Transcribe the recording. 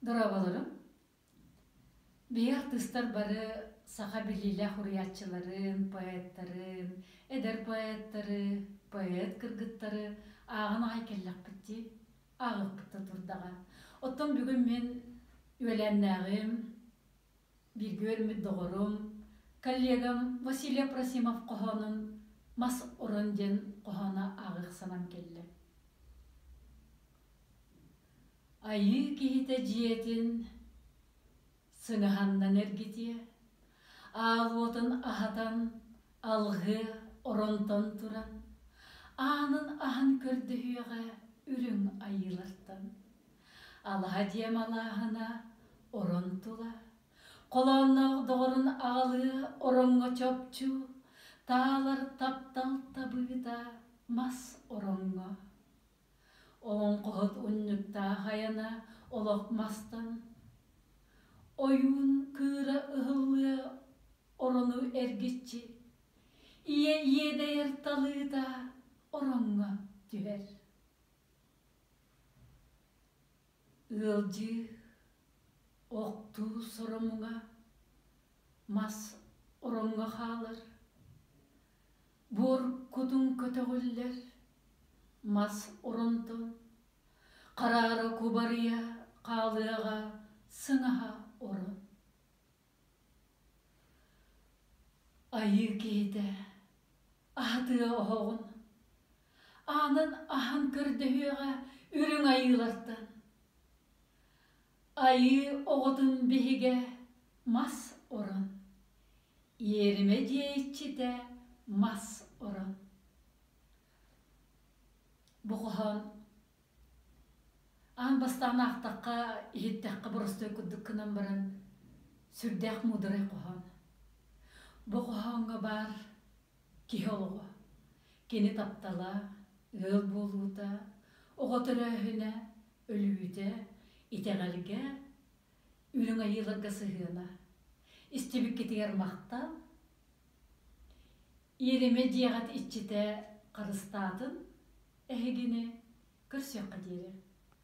Дорооболоруҥ. Биһи артыыстар бары саха билиилээх уруйааччыларын, поэттарын, эдэр поэттары, поэт кыргыттары ааҕан аҕай кэллэхпит дии, ааҕыахпыт да турдаҕа. Оттон бүгүн мин үөлээннээҕим, бииргэ үөрэммит доҕорум, коллегам Василий Апросимов хоһоонун Мас орон диэн хоһооно ааҕыах санаам кэллэ. Айыы киһитэ дьиэтин сыҥаһаннан эргитиэ, аал уотун аһатан алҕыы оронтон туран, аанын аһан көрдөһүөҕэ үрүҥ айыылартан. Алаһа дьиэм алааһына орон тула, холоонноох доҕорун аҕалыы ороҥҥо чопчу, таалар таптал табыыта мас ороҥҥо. Олоҥхоһут унньуктаах айана олох мастан, ойуун кыыра ыһыллыа орону эргиччи, ийэ иэдэйэр талыыта ороҥҥо түһэр. Ыалдьыы, охтуу соромуҥа, мас ороҥҥо хаалар. Буор кутун көтөҕүллэр мас оронто, хараара кубарыйа хаалыаҕа сыҥаһа оро. Айыы киһитэ, аһатыа оһоҕун, аанын аһан көрдөһүөҕэ үрүҥ айыылартан. Айыы оҕотун биһигэ мас орон, иэримэ диэйиччитэ мас орон. Бу хоһоон аан бастаан аахтахха, иһиттэххэ боростуой курдук гынан баран сүрдээх муударай хоһоон. Бу хоһооҥҥо баар Киһи олоҕо. Кини таптала, ыал буолуута, оҕо төрөөһүнэ, өлүүтэ, итэҕэлгэ, Үрүҥ Айыыларга сыһыана. Истибиккитигэр махтал. Иэримэ дьиэҕит иччитэ харыстаатын эһигини көрсүөххэ диэри.